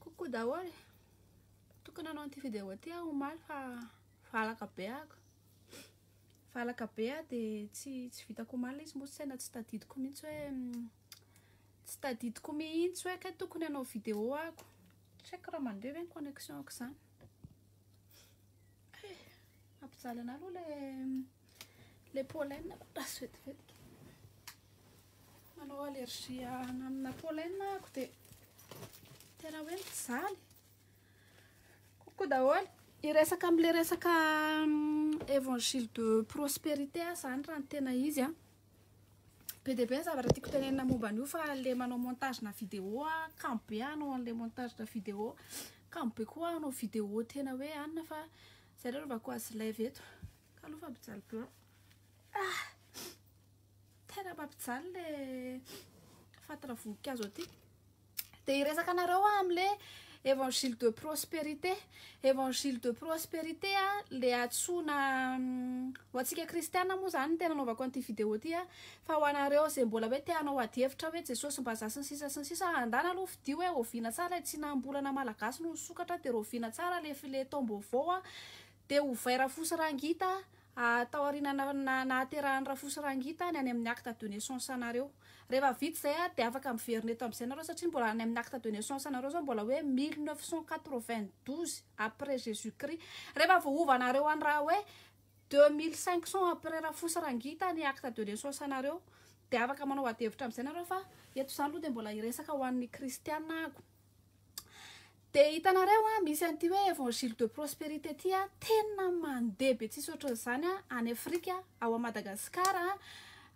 Coucou daholo. Tokony nanao an'ity vidéo ity aho omaly fa valaka be ako. Valaka be aho de tsy tsy vitako omaly le izy moa saina tsy tadidiko mihitsy hoe mm, tsy tadidiko mihitsy hoe kay tokony hanao vidéo ako. Tsy haiko raha mandeha ve ny connexion-ko zany. Eh, mampijaly anah aloha le Le pollen lasa vetivetika. Manao allergie amina pollen ako dia tena hoe mijaly. Kokoa daholo. Iresaka amin'ilay resaka mm, évangile de prospérité ah, zany raha ny tena izy a. Ah. Be dia be ny zavatra tiako tenenina momba an'io fa le manao montage na vidéo ah, kamo be hanao an'ilay montage na vidéo. Kamo be koa hanao vidéo tena hoe anona fa zay aloha alovako azy live eto. Kalo fa mpijaly blanc. Ah! Tena mampijaly le fatira voninkazo aty. Dia hiresaka anareo aho amin'ilay évangile de prospérité. Évangile de prospérité a, le atsoina mm, ho antsika kristiana moa zany tena anaovako an'ity vidéo ity a, fa ho anareo izay mbola hoe te hanao adihevitra hoe Jesosy mba za sy ny sisa sy ny sisa, andana aloha fidio hoe oviana tsara ilay tsinam-bolana malagasy no nisokatra dia raoviana tsara le file taom-baovao a, Dia ovay Rafosirangita a tao aoriana na na nahaterahan'i Rafosirangita ny any amin'ny acte de naissance anareo. Rehefa vita izay a dia afaka miverina eto amin'izay nareo satria mbola any amin'ny acte de naissance anareo zao mbola hoe mille neuf cent quatre vingt douze après jesus christ. Rehefa voahova anareo any raha hoe deux mille cinq cent après Rafosirangita ny acte de naissance anareo dia afaka manao adihevitra amin'izay nareo fa eto izany aloha dia mbola hiresaka ho an'ny kristiana ahako. Dia hitanareo an, misy an'ity hoe évangile de prospérité ity an, tena mandeha be tsisy ohatran'izany an, any Afrika, ao à Madagascar,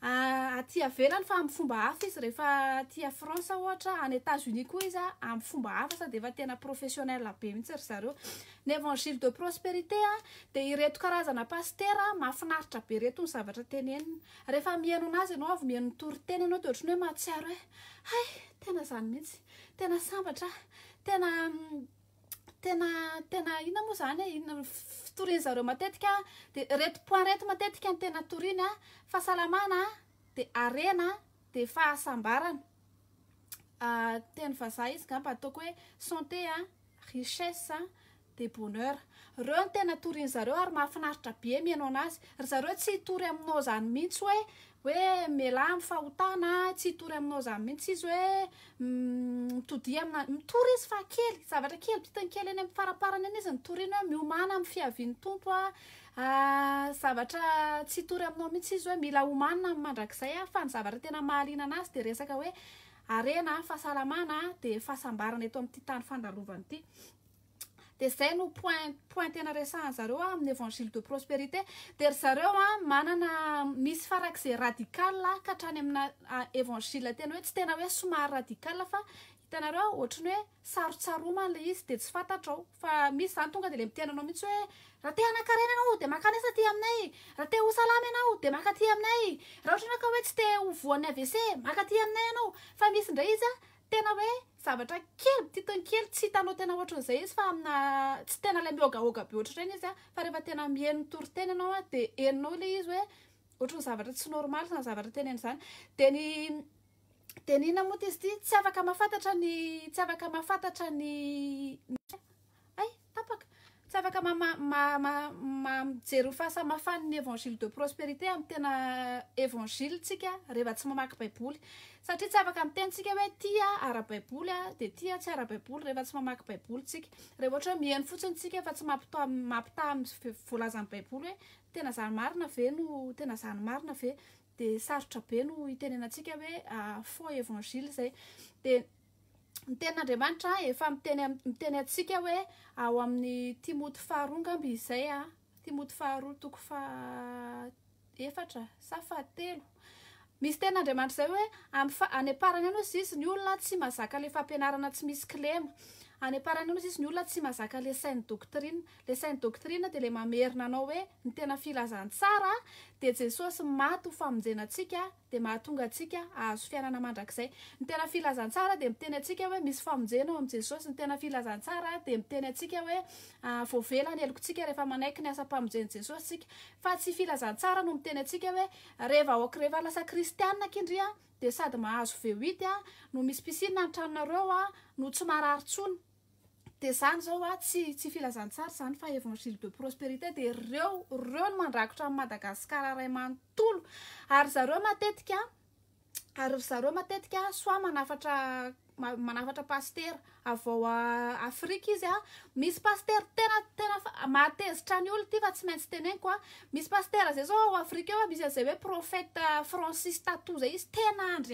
aty avelany fa amin'ny fomba hafa izy rehefa aty à France ohatra, any Etats Unis koa izy an, amin'ny fomba hafa sady efa tena professionnel be mihitsy ry zareo. Ny évangile de prospérité an, dia ireto karazana pasitera mahafinaritra be ireto ny zavatra teneniny. Rehefa mihaino an'azy ianao, avy mihaino ny toriteny ianao, dia ohatran'ny hoe mahatsiaro hoe hay, tena izany mihitsy. Tena sambatra aho, tena tena tena inona moa zany e, inona fitoriany zareo matetika de reto point reto matetika ny tena toriny a, fahasalamana a, de harena a, de fahasambarana, teny vazaha izy ngamba ataoko hoe santé a, richesse a, De bonheur. Reo ny tena torin zareo ary mahafinaritra be mihaino anazy. Ry zareo tsy hitory aminao zany mintsy hoe hoe mialà am fahotana a, tsy hitory aminao zany mintsy izy hoe mitodia amina, mitory izy fa kely, zavatra kely bitiny kely eny am faraparany eny izy no toriany hoe miomana am fiavian'ny Tompo a, zavatra tsy hitory aminao mintsy izy hoe mila omanina am mandrakizay a, fa ny zavatra tena mahaliana anazy de resaka hoe harena a, fahasalamana a, de fahasambarana eto amty tany fandalovany ty. dia izay no point point tena resahan zareo a amin'ny évangile de prospérité dia ry zareo a manana misy farak'izay radical ka hatrany amina évangile tena hoe tsy tena hoe somary radical fa hitanareo ohatry ny hoe sarotsaromana ilay izy dia tsy fantatrao fa misy zany tonga dia le miteny anao mihitsy hoe raha te hanankarena ianao dia maka an'isa aty aminay raha te ho salama ianao dia maka aty aminay raha ohatra ianao ka hoe tsy te ho voan'ny AVC maka aty aminay ianao fa misy indray izy a tena hoe Zavatra kely, titiny kely, tsy hitanao tena ohatran'izay izy fa amina tsy tena ilay mihogahoga be ohatr'ireny izy fa rehefa tena miheno ny toriteny ianao dia henonao ilay izy hoe ohatran'ny zavatra tsy normal izany zavatra teneniny izany. Dia ny dia ny inona moa ity izy ity tsy afaka mahafantatra ny tsy afaka mahafantatra ny Hay, tapaka! Tsy afaka ma ma ma ma ma mijery ny fahasamihafan' ny Evangile de prosperite amin' ny tena Evangile tsika rehefa tsy mamaky Baiboly. Satria tsy afaka miteny tsika hoe ity aho ara-baiboly a, dia ity aho tsy ara-baiboly rehefa tsy mamaky Baiboly tsika. Rehefa ohatra hoe miheno fotsiny tsika fa tsy mampita- mampitaha amin' ny voalazan' ny Baiboly hoe tena izany marina ve no tena izany marina ve, dia sarotra be no hitenenantsika hoe faux Evangile izay. Dia ny tenin'Andriamanitra efa miteny miteny antsika hoe ao amin'ny Timoty faharoa angamba izay a Timoty faharoa toko faha efatra sa fahatelo misy tenin'Andriamanitra izay hoe amin'ny fa any am-parany any hozy izy ny olona tsy mazaka le fampianarana tsy misy kilema any am-parany any hozy izy ny olona tsy mazaka le sain'ny doctrine le sain'ny doctrine dia le mamerina anao hoe ny tena filazantsara dia Jesosy maty ho famonjena antsika dia mahatonga antsika hahazo fiainana mandrakizay. Ny tena filazantsara dia miteny antsika hoe misy famonjena ao amin'i Jesosy. Ny tena filazantsara dia miteny antsika hoe voavela ny helokontsika rehefa manaiky ny asam-pamonjen'i Jesosy isika. Fa tsy filazantsara no miteny antsika hoe re vahoaka rehefa lasa kristiana aky ndry dia sady mahazo VUIT no misy piscine ny tranonareo no tsy marary intsony. Dia izany izao a, tsy tsy filazantsara izany fa Evangile de prosperité dia ireo ireo no mandrakotra an'i Madagasikara iray manontolo ary ry zareo matetika ary ry zareo matetika soit manafatra manafatra pasitera avy ao Afrika izy a misy pasitera tena tena mahatezitra ny olona ity fa tsy maintsy teneniko a misy pasitera izay zao ao Afrika eo misy an'izay hoe prophète Francis Tatou izay izy tena andry